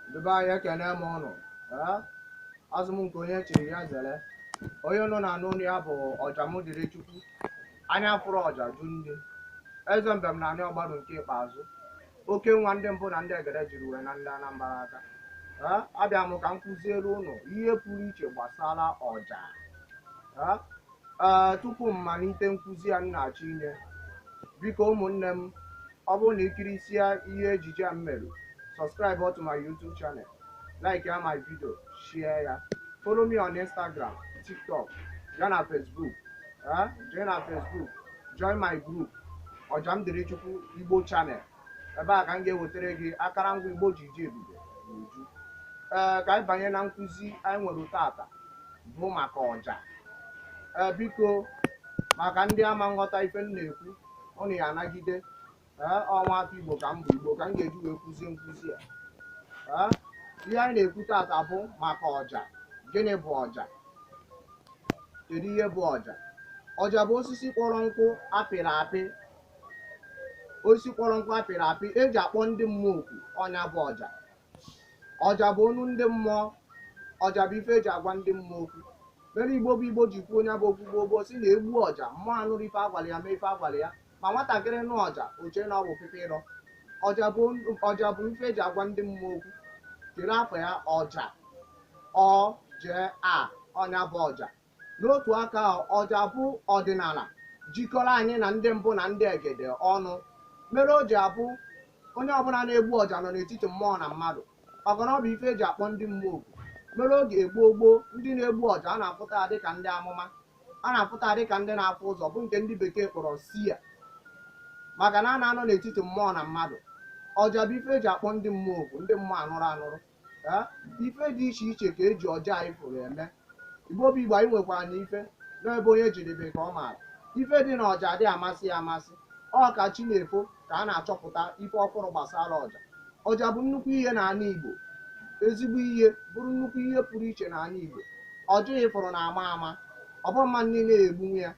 Ndị be anyị ekene m ụnụ ee azụ m nke onye chiri ya zere onye ụnụ na-anụ onu ya bụ ọja m dịrị chukwu anya fụrụ ọja jụ nni eze mbem n'anị ọgbaru nke ikpeazụ oke nwa ndị mbụ na ndị egede jiri wee naa ndị anambra aka ee abịa m ka m kụziere ụnụ ihe pụrụ iche gbasara ọja ee ee tupu m malite nkụzi a m na-achọ inye biko ụmụnne m Ọ bụrụ na i kirisịa ihe ejije a m mere, subscribe to my YouTube channel, like ya my video, share ya. Follow me on Instagram, TikTok, ya na Facebook. Eh? Join na Facebook, join my group, Ọjamdirichukwu Igbo channel. Ebe a ka m ga-ewetara gị akarangwa Igbo ji ji ebube n'uju. Ee, ka anyị banye na nkụzi anyị nwere tata bụ maka ọja. Ee, biko maka ndị ama nghọta ife m na-ekwu ụnụ ya anagide ee ọ nwa afọ igbo ka m bụ igbo ka m ga-eji wee kụzie nkụzi a ee ihe anyị na-ekwu tata bụ maka ọja gịnị bụ ọja kedu ihe bụ ọja ọja bụ osisi kpọrọ nkụ apịrị apị osisi kpọrọ nkụ apịrị apị eji akpọ ndị mmụọ oku ọ nya bụ ọja ọja bụ onu ndị mmụọ ọja bụ ife eji agwa ndị mmụọ okwu mere igbo bụ igbo ji kwuo nya bụ okwu gboo gboo sị na egbu ọja mmụọ anụrụ ife agwara ya mee ife agwara ya ma nwatakịrị nụ ọja o chee na ọ bụ pịpị ịrọ ọja bụ ife eji agwa ndị mmụọ okwu kedu afa ya ọja o j a ọ nya bụ ọja N'otu aka ahụ, ọja bụ ọdịnala jikọrọ anyị na ndị mbụ na ndị egede ọnụ mere o ji abụ onye ọbụla na-egbu ọja nọ n'etiti mmụọ na mmadụ maka na ọ bụ ife e ji akpọ ndị mmụọ oku mere oge gboo gboo ndị na-egbu ọja a na-afụta ya dịka ndị amụma a na-afụta ya dịka ndị na-afụ ụzọ bụ nke ndị bekee kpọrọ seer maka na a na-anọ n'etiti mmụọ na mmadụ ọja bụ ife e ji akpọ ndị mmụọ oku ndị mmụọ anụrụ anụrụ Ee, ife dị iche iche ka eji ọja a ị fụrụ eme igbo bụ igbo anyị nwekwara na ife n'ebe onye jedebe ka ọ maara ife dị na ọja adị amasị ya amasị ọ ka chi na-efo ka a na-achọpụta ife ọfụrụ gbasara ọja ọja bụ nnukwu ihe n'ala igbo ezigbo ihe bụrụ nnukwu ihe pụrụ iche n'ala igbo ọja a ị fụrụ na-ama ama ọ bụrọ mmadụ niile na-egbunwu ya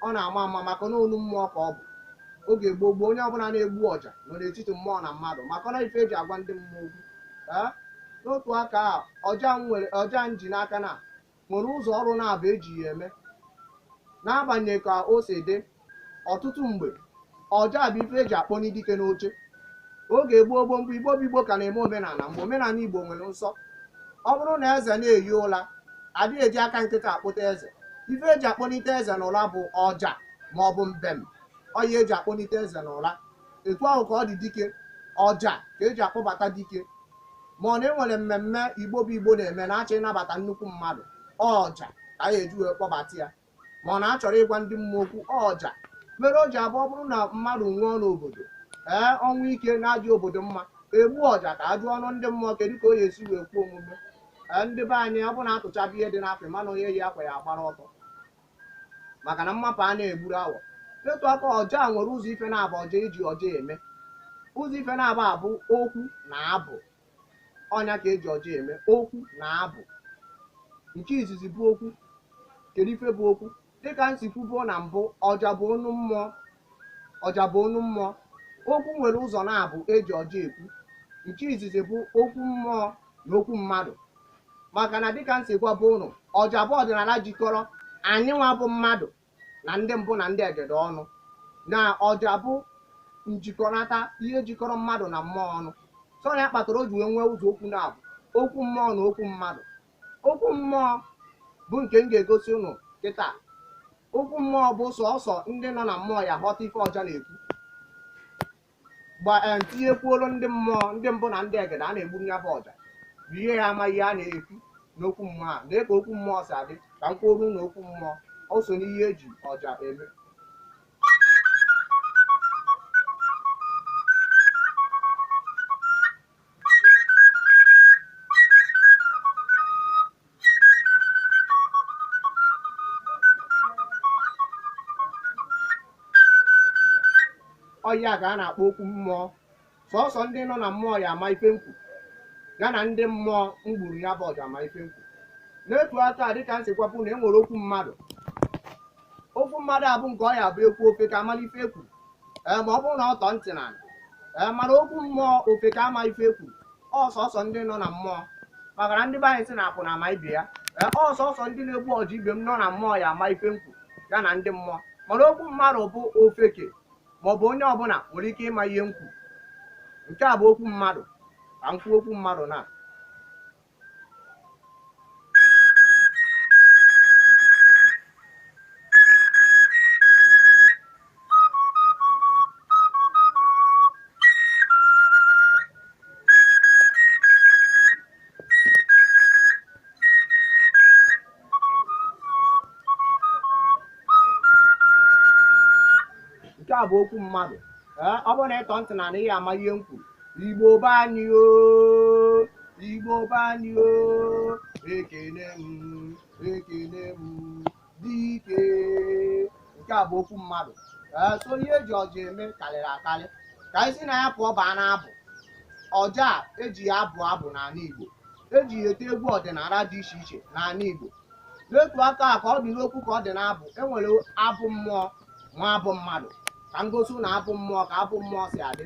Ọ na-ama ama maka na onu mmụọ ka ọ bụ. Oge gboo gboo, onye ọbụla na-egbu ọja nọ n'etiti mmụọ na mmadụ maka na ife e ji agwa ndị mmụọ okwu. Ee, n'otu aka a, ọja m nwere ọja m ji n'aka na nwere ụzọ ọrụ naabọ e ji ya eme. N'agbanyeghị ka o si dị, ọtụtụ mgbe, ọja bụ ife eji akpọnye dike n'oche oge gboo gboo mgbe igbo bụ igbo ka na-eme omenala mgbe omenala igbo nwere nsọ ọ bụrụ na eze na-eyi ụla adịghị eji aka nkịtị akpọte eze ife eji akpọnite eze n'ụla bụ ọja ma ọ bụ mbem ọ ya eji akpọnite eze n'ụla etu ahụ ka ọ dị dike ọja ka eji akpọbata dike ma ọ na enwere mmemme igbo bụ igbo na-eme na-achọ ịnabata nnukwu mmadụ ọja ka anyị eji wee kpọbata ya ma ọ na-achọrọ ịgwa ndị mmụọ okwu ọja mere o ji abụ ọ bụrụ na mmadụ nwụọ n'obodo ee ọnwụ ike na-adị obodo mma egbu ọja ka a jụọ ọnụ ndị mmụọ kedu ka o ya esi wee kwuo omume ee ndị be anyị ọ bụ na atụchaba ihe dị n'afe mana onye yi akwa ya agbara ọtọ maka na mmapụ a na-egburu awọ etu aka ọja nwere ụzọ ife naabọ ọja eji ọja eme ụzọ ife naabọ a bụ okwu na abụ ọ nya ka eji ọja eme okwu na abụ nke izizi bụ okwu kedu ife bụ okwu dịka m si kwubuo na mbụ ọja bụ onu mmụọ ọja bụ onu mmụọ okwu nwere ụzọ naabọ eji ọja ekwu nke izizi bụ okwu mmụọ na okwu mmadụ maka na dịka m si gwabuo ụnụ ọja bụ ọdịnala jikọrọ anyị nwa bụ mmadụ na ndị mbụ na ndị egede ọnụ na ọja bụ njikọnata ihe jikọrọ mmadụ na mmụọ ọnụ so ya kpatara o ji wee nwee ụzọ okwu naabọ okwu mmụọ na okwu mmadụ okwu mmụọ bụ nke m ga-egosi ụnụ kịta okwu mmụọ bụ sọsọ ndị nọ na mmụọ ya aghọta ife ọja na-ekwu gba eh, tinyekwuoro ndị mmụọ ndị mbụ na ndị egede a na-egburu ya bụ ọja bụ ihe ya ama ihe a na-ekwu n'okwu mmụọ a lee ka okwu mmụọ si adị ka m kwuoro na okwu mmụọ o so n'ihe eji ọja eme ọ ya ka a na-akpọ okwu mmụọ sọsọ ndị nọ na mmụọ ya ama ife m kwu ya na ndị mmụọ m gburu ya bụ ọja ama ife m kwu n'etu aka a dịka m si gwabu na e nwere okwu mmadụ okwu mmadụ abụ nke ọ ya abụ ekwuo ofeke amala ife ekwuru ma ọ bụrụ na ọ tọ ntị ana ee mana okwu mmụọ ofeke ama ife ekwuru ọ sọsọ ndị nọ na mmụọ maka na ndị be anyị si na akwụna ama ibe ya ee ọ sọsọ ndị na-egbu ọja ibe m nọ na mmụọ ya ama ife m kwu ya na ndị mmụọ mana okwu mmadụ bụ ofeke maọbụ onye ọbụla nwere ike ịma ihe m kwu nke a bụ okwu mmadụ ka m kwuo okwu mmadụ na nke a bụ okwu mmadụ ee ọ bụrụ na ịtọ ntị na ị ya ama ihe m kwuru igbo be anyị o igbo be anyị o ekene m ekene m dike nke a bụ okwu mmadụ ee so ihe eji ọja eme karịrị akarị ka anyị si na ya pụọ baa n'abụ ọja a eji ya abụ abụ n'ala Igbo eji ya ete egwu ọdịnala dị iche iche n'ala Igbo n'otu aka a ka ọ dị n'okwu ka ọ dị n'abụ enwere abụ mmụọ nwee abụ mmadụ ka m gosi na abụ mmụọ ka abụ mmụọ si adị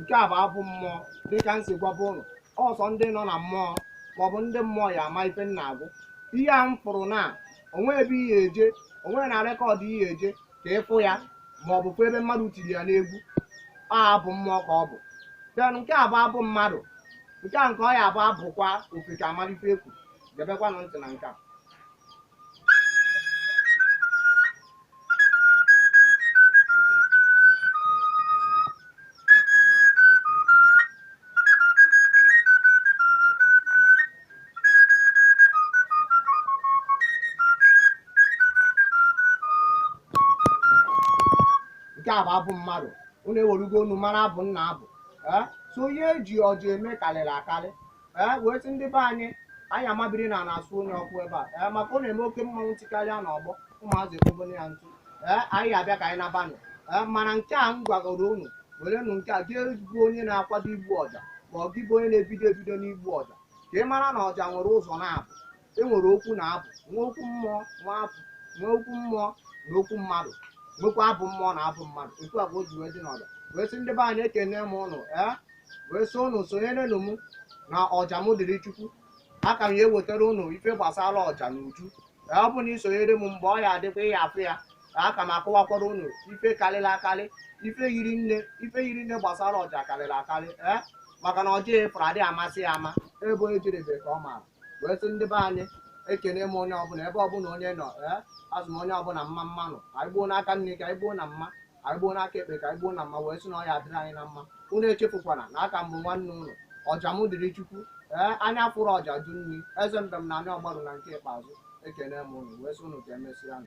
nke a bụ abụ mmụọ dịka m si gwabu unu ọ sọ ndị nọ na mmụọ maọbụ ndị mmụọ ya ama ife m na-agụ ihe a m fụrụ na o nwe ebe ị ya eje o nwe na rekọdụ ị ya eje ka ị fụ ya maọbụ fụ ebe mmadụ tiri ya n'egwu ọ abụ mmụọ ka ọ bụ then nke a bụ abụ mmadụ nke a nke ọ ya bụ abụkwa ofeke amalụ ife ekwu debekwanụ ntị na nke a nke a bụ abụ mmadụ unu ewerugo unu mara abụ m na-abụ ee so ihe eji ọja eme karịrị akarị ee wee sị ndị be anyị anyị amabiri na na-asụnye ọkụ ebe a ee maka ọ na-eme oke mmanwụ tikarịa na ọgbọ ụmụazị ekpobone ya ntụ ee anyị abịa ka anyị nabanụ ee mana nke a m gwagoro unu werenụ nke a gị bụ onye na-akwado igbu ọja ma ọ gị bụ onye na-ebido ebido n'igbu ọja ka ị mara na ọja nwere ụzọ naabọ e nwere okwu na abụ nwee okwu mmụọ nwee abụ nwee okwu mmụọ na okwu mmadụ nwekwa abụ mmụọ na abụ mmadụ otu a ka o ji wee dị n'ọja wee sị ndị be anyị ekene m ụnụ ee wee sị ụnụ sonyerenụ m na ọja m dịrị chukwu a ka m ya ewetara ụnụ ife gbasara ọja na uju ee ọ bụ na i sonyere m mgbe ọ ya adịkwa ị ya afụ ya ka aka m akọwakwara ụnụ ife karịrị akarị ife yiri nne ife yiri nne gbasara ọja karịrị akarị ee maka na ọja efere adịghị amasị ya ama ebe onye jerebe ka ọ maara wee sị ndị be anyị ekene m onye ọbụla ebe ọbụla onye nọ ee asị m onye ọbụla mma mma nụ anyị gbuo n'aka nni ka anyị gbuo na mma anyị gbuo n'aka ekpe ka anyị gbuo na mma wee sị na ọ ya adịrị anyị na mma unu echefukwana na a ka m bụ nwanne unu ọja m dịrị chukwu ee anya fụrụ ọja jụ nri eze mbem na ani ọgbarụ na nke ikpeazụ ekene m unu wee sị unu ka emesịa